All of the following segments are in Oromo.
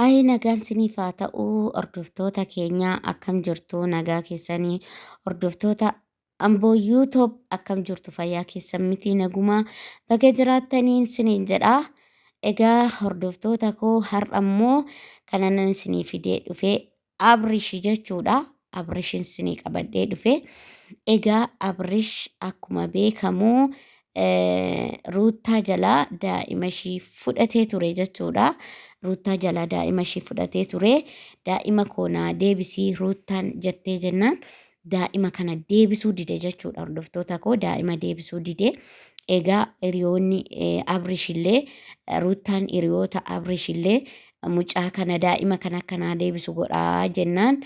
Ayii nagaan siniif haa ta'u hordoftoota keenya akkam jirtu nagaa keessanii hordoftoota amboo yuutoob akkam jirtu fayyaa keessan miti nagumaa baga jiraattaniin siniin jedha. Egaa hordoftoota koo har'a immoo kanan isinii fidee dhufee Abrish jechuudha. Abrishin isinii qabadhee dhufe. Egaa Abrish akkuma beekamu Ruuttaa jalaa daa'ima ishii fudhatee ture jechuudha. Ruuttaa jalaa daa'ima ishii fudhatee ture. Daa'ima koo naa deebisii Ruuttaan jettee jennaan daa'ima kana deebisuu dide jechuudha hordoftoota koo daa'ima deebisuu dide egaa hiriyoonni abrish illee ruuttaan hiriyoota abrish illee mucaa kana daa'ima kana akkanaa deebisu godhaa jennaan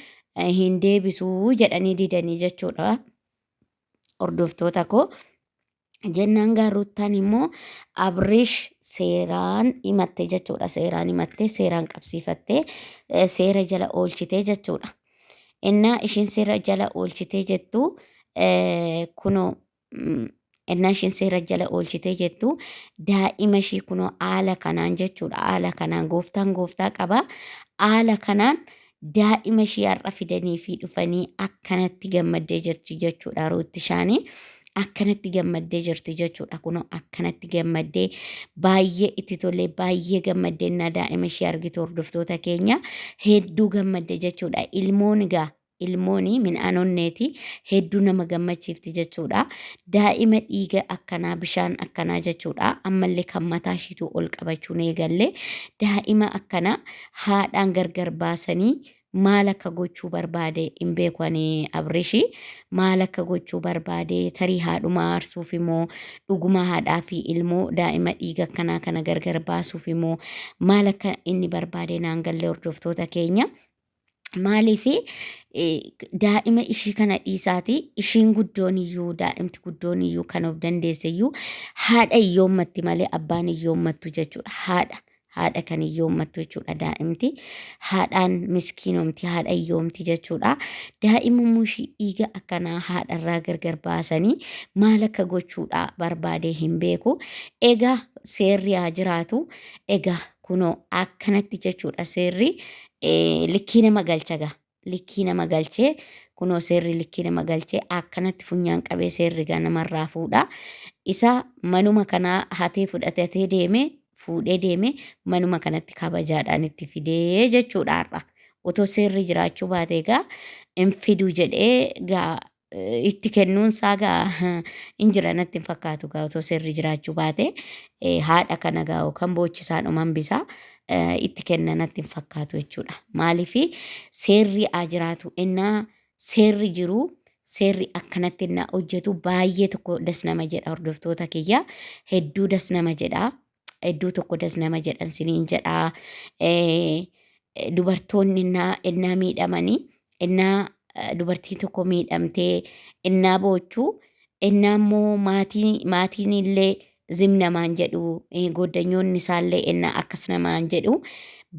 hin deebisuu jedhanii didanii jechuudha hordoftoota koo Jennaan gaa Ruuttaan immoo Abrish seeraan himatte jechuudha. Seeraan himattee seeraan qabsiifattee eh, seera jala oolchitee jechuudha. Innaa ishiin seera jala oolchitee jettu eh, kunoo mm, innaa ishiin seera jala oolchitee jettu daa'ima ishii kunoo haala kanaan jechuudha. Haala kanaan gooftaan gooftaa qaba. Haala kanaan daa'ima ishii har'a fidanii fi dhufanii akkanatti gammaddee jirti jechuudha ruutti shaanii akkanatti gammaddee jirti jechuudha kunoo akkanatti gammaddee baay'ee itti tolee baay'ee gammaddee na daa'ima ishee argitu hordoftoota keenya hedduu gammadde jechuudha ilmoon egaa ilmooni midhaan onneeti hedduu nama gammachiifti jechuudha daa'ima dhiiga akkanaa bishaan akkanaa jechuudha ammallee kan mataa ishiitu ol qabachuun eegalle daa'ima akkanaa haadhaan gargar baasanii maal akka gochuu barbaade hin beeku ani abrishi maal akka gochuu barbaade tarii haadhuma aarsuuf immoo dhuguma haadhaa fi ilmoo daa'ima dhiiga akkanaa kana gargar baasuuf immoo maal akka inni barbaade naan galle hordoftoota keenya. Maaliif daa'ima ishii kana dhiisaati ishiin guddoon iyyuu daa'imti guddoon iyyuu kan of dandeesse iyyuu haadha iyyoommatti malee abbaan iyyoommatu jechuudha haadha haadha kan hiyyoommattu jechuudha daa'imti. Haadhaan miskiinomti, haadha hiyyoomti jechuudha. Daa'imummoo ishii dhiiga akkanaa haadharraa gargar baasanii maal akka gochuudha barbaadee hin beeku. Egaa seerri haa jiraatu. Egaa kunoo akkanatti jechuudha seerri eh, likkii nama galcha gaa. likkii nama galchee kunoo seerri likkii nama galchee akkanatti funyaan qabee seerri gaa namarraa fuudha. Isa manuma kanaa hatee fudhatatee deemee fuudhee deemee manuma kanatti kabajaadhaan itti fidee jechuudha har'a. Otoo seerri jiraachuu baate egaa hin fiduu jedhee gaa eh, itti kennuun isaa gaa hin jira natti hin fakkaatu gaa otoo seerri jiraachuu baate eh, haadha kana gaa yookaan boochisaan uman bisaa eh, itti kenna natti hin fakkaatu jechuudha. Maaliif seerri haa jiraatu innaa seerri jiru seerri akkanatti innaa hojjetu baay'ee tokko das nama jedha hordoftoota kiyya hedduu das nama jedha. iddoo tokko das nama jedhan siniin jedhaa dubartoonni innaa innaa miidhamanii innaa dubartiin tokko miidhamtee innaa boochuu innaa immoo maatiin maatiin illee zim namaan jedhu goddanyoonni isaallee innaa akkas namaan jedhu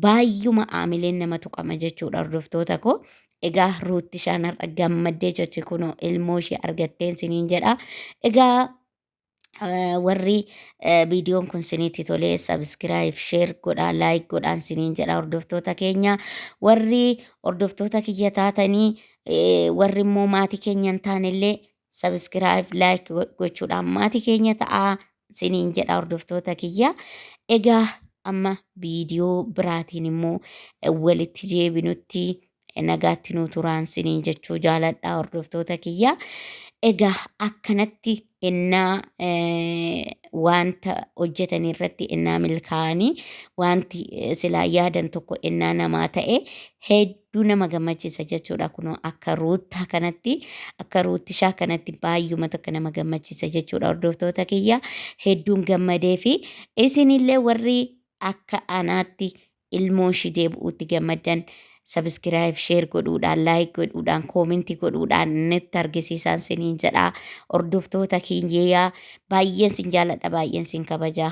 baay'uma aamileen nama tuqama jechuudha hordoftoota koo. Egaa ruutti shaanarra gammaddee jechi kunoo ilmoo ishee argatteen siniin jedha. Egaa Eh, warri eh, viidiyoon kun sinitti tolee sabiskiraayib sheer godhaa laayik godhaan siniin jedha hordoftoota keenya warri hordoftoota kiyya taatanii eh, warri immoo maatii keenya hin taanellee sabiskiraayib laayik gochuudhaan maatii keenya ta'aa siniin jedha hordoftoota kiyya egaa amma viidiyoo biraatiin immoo eh, walitti deebinutti nagaatti nuu turaan siniin jechuu jaaladhaa hordoftoota kiyya. Egaa akkanatti ennaa wanta hojjetan irratti ennaa milkaa'anii wanti silaa yaadan tokko ennaa namaa ta'e hedduu nama gammachiisa jechuudha kunoo akka ruuttaa kanatti akka ruuttishaa kanatti baay'uma tokko nama gammachiisa jechuudha hordoftoota kiyya hedduun gammadee fi isinillee warri akka anaatti ilmoon ishii deebi'uutti gammaddan sabiskiraayib sheer godhuudhaan laayik godhuudhaan koominti godhuudhaan nutti argisiisaan siniin jedha hordoftoota kiyyaa baay'een sin jaaladha baay'een sin kabaja.